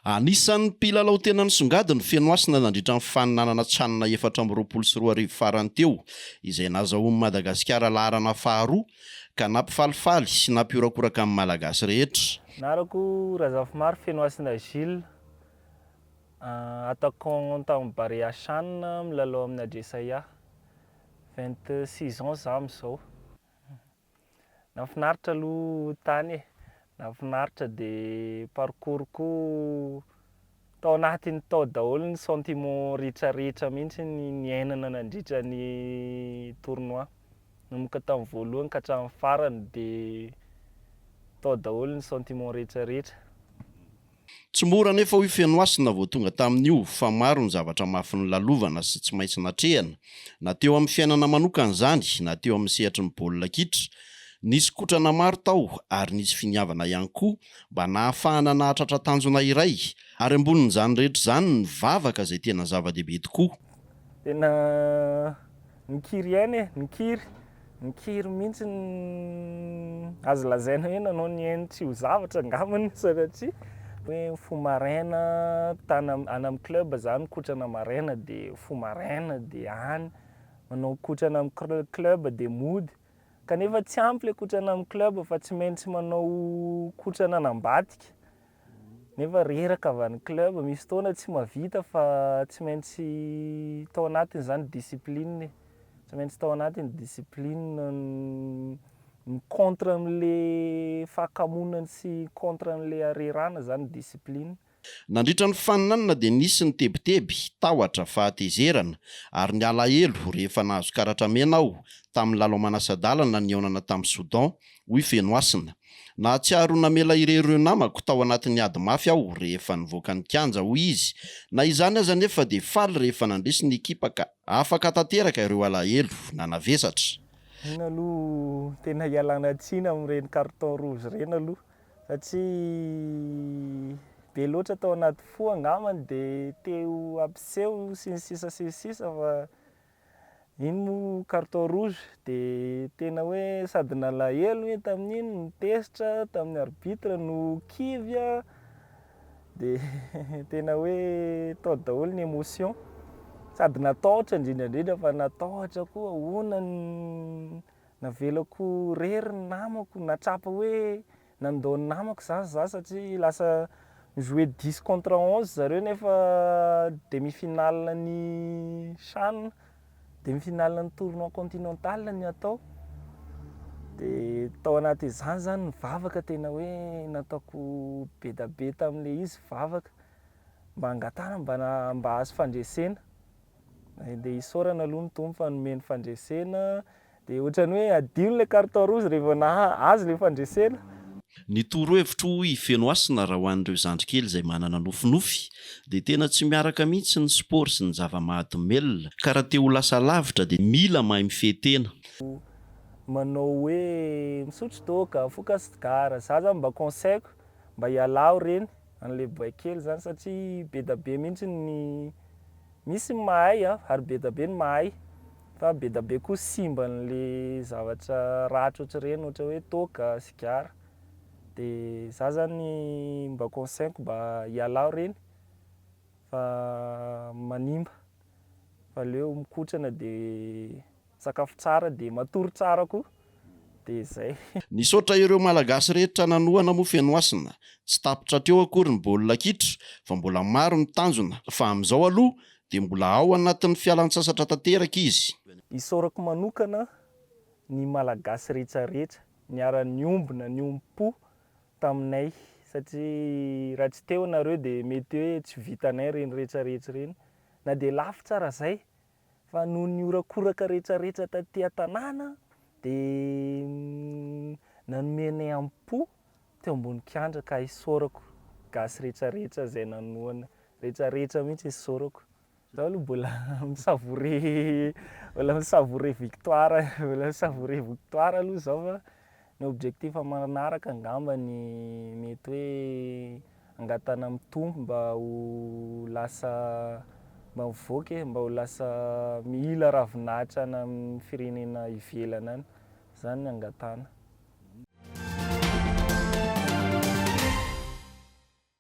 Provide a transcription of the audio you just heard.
Anisan'ny mpilalao tena nisongadina i Fenohasina nandritra ny faninanana Chan efatra amby roapolo sy roa arivo farany teo, izay nazahoan'i Madagasikara laharana faharoa, ka nampifalifaly sy nampiorakoraka ny Malagasy rehetra. Ny anarako Razafimary Fenohasina Gilles, attaquant tamin'ny Barea Chan, milalao amin'ny Adresaya. Vingt six ans za amin'izao. Nahafinaritra aloha tany e, nahafinaritra de parcours koa tao anatiny tao daholo ny sentiment rehetra rehetra mihitsy ny niainana nandritra ny tournoi. Nanomboka tamin'ny voalohany ka hatramin'ny farany de tao daholo ny sentiment rehetra rehetra. Tsy mora anefa hoy Fenohasina vao tonga tamin'io fa maro ny zavatra mafy nolalovana sy tsy maintsy natrehana, na teo amin'ny fiainana manokana izany na teo amin'ny sehatry ny baolina kitra. Nisy kotrana maro tao ary nisy finiavana ihany koa mba nahafahana nahatratra tanjona iray, ary ambonin'izany rehetra izany ny vavaka izay tena zava-dehibe tokoa. Tena Nikiry ihany e, nikiry, nikiry mihitsy ny azo lazaina hoe nanao ny ainy tsy ho zavatra angambany sanatria hoe mifoha maraina tany am- any amin'ny club za nikotrana maraina dia mifoha maraina dia any manao mikotrana amin'ny cl- club dia mody kanefa tsy ampy ilay kotrana amin'ny club fa tsy maintsy manao kotrana an'ambadika. Nefa reraka avy any club, misy fotoana tsy mahavita fa tsy maintsy tao anatiny izany discipline, tsy maintsy tao anatiny ny discipline, ny contre an'le fahakamonany sy contre an'le harerahana izany ny discipline. Nandritra ny faninanana dia nisy ny tebiteby, tahotra, fahatezerana, ary ny alahelo rehefa nahazo karatra mena aho tamin'ny lalao manasa-dalana nihaonana tamin'i Soudan, hoy Fenohasina. Nahatsiaro namela irery ireo namako tao anatin'ny ady mafy aho rehefa nivoaka ny kianja, hoy izy. Na izany aza anefa dia faly rehefa nandresy ny ekipa ka afaka tanteraka ireo alahelo nanavesatra. Iny aloha tena ialana tsiny amin'ireny carton rouge ireny aloha satria be loatra tao anaty fo angambany dia te ho hampiseho sy ny sisa sy ny sisa fa Iny moa carton rouge dia tena hoe sady nalahelo anie tamin'iny, nitezitra tamin'ny arbitre, no kivy a, dia tena hoe tao daholo ny emotion, sady natahotra indrindra indrindra fa natahotra koa ahoana ny navelako irery ny namako, nahatsapa hoe. Nandoa ny namako izany izaho satria lasa mi-jouer dix contre onze zareo nefa demi finale ny chan, demi finale ny tournoi continental ny atao, dia tao anatin'izany izany ny vavaka tena hoe nataoko bedabe tamin'ilay izy vavaka mba hangatahana mba na- mba hahazo fandresena, dia isaorana aloha ny Tompo fa nomeny fandresena Dia ohatrany hoe adino ilay carton rouge rehefa naha azy ilay fandresena. Ny toro hevitro hoy i Fenohasina raha ho an'ireo zandry kely izay manana nofinofy dia tena tsy miaraka mihitsy ny sport sy ny zava-mahadomelina ka raha te ho lasa lavitra dia mila mahay mifehy tena. Manao hoe misotro toaka, afoka sigara, za zany mba conseil-ko mba ialaho ireny an'ilay boay kely zany satria be da be mihitsy ny. Misy ny mahay a, ary bedabe ny mahay, fa bedabe koa simban'le zavatra ratra ohatr'ireny ohatra hoe toaka, sigara, de za zany mba conseil-ko mba ialao ireny fa manimba, fa aleo mikotrana de. Sakafo tsara dia matory tsara koa dia izay. Nisaotra ireo Malagasy rehetra nanohana moa Fenohasina. Tsy tapitra teo akory ny baolina kitra fa mbola maro ny tanjona fa amin'izao aloha dia mbola ao anatin'ny fialantsasatra tanteraka izy. Isaorako manokana ny Malagasy rehetrarehetra niara-niombona niompo taminay satria raha tsy teo ianareo dia mety hoe tsy vitanay ireny rehetra rehetra ireny na dia lavitra aza izay Fa noho ny horakoraka rehetrarehetra taty an-tanàna dia nanome anay am-po teo ambony kianja ka isaorako gasy rehetrarehetra izay nanohana, rehetrarehetra mihitsy isaorako. Zaho aloha mbola mi-savourer mbola mi-savourer victoire mbola mi-savourer victoire aloha izao fa Ny objectif manaraka angamba ny mety hoe angatahana mitombo mba ho lasa mba mivoaka e, mba ho lasa mila ravinahitra any amin'ny firenena ivelany any, zany ny angatahana.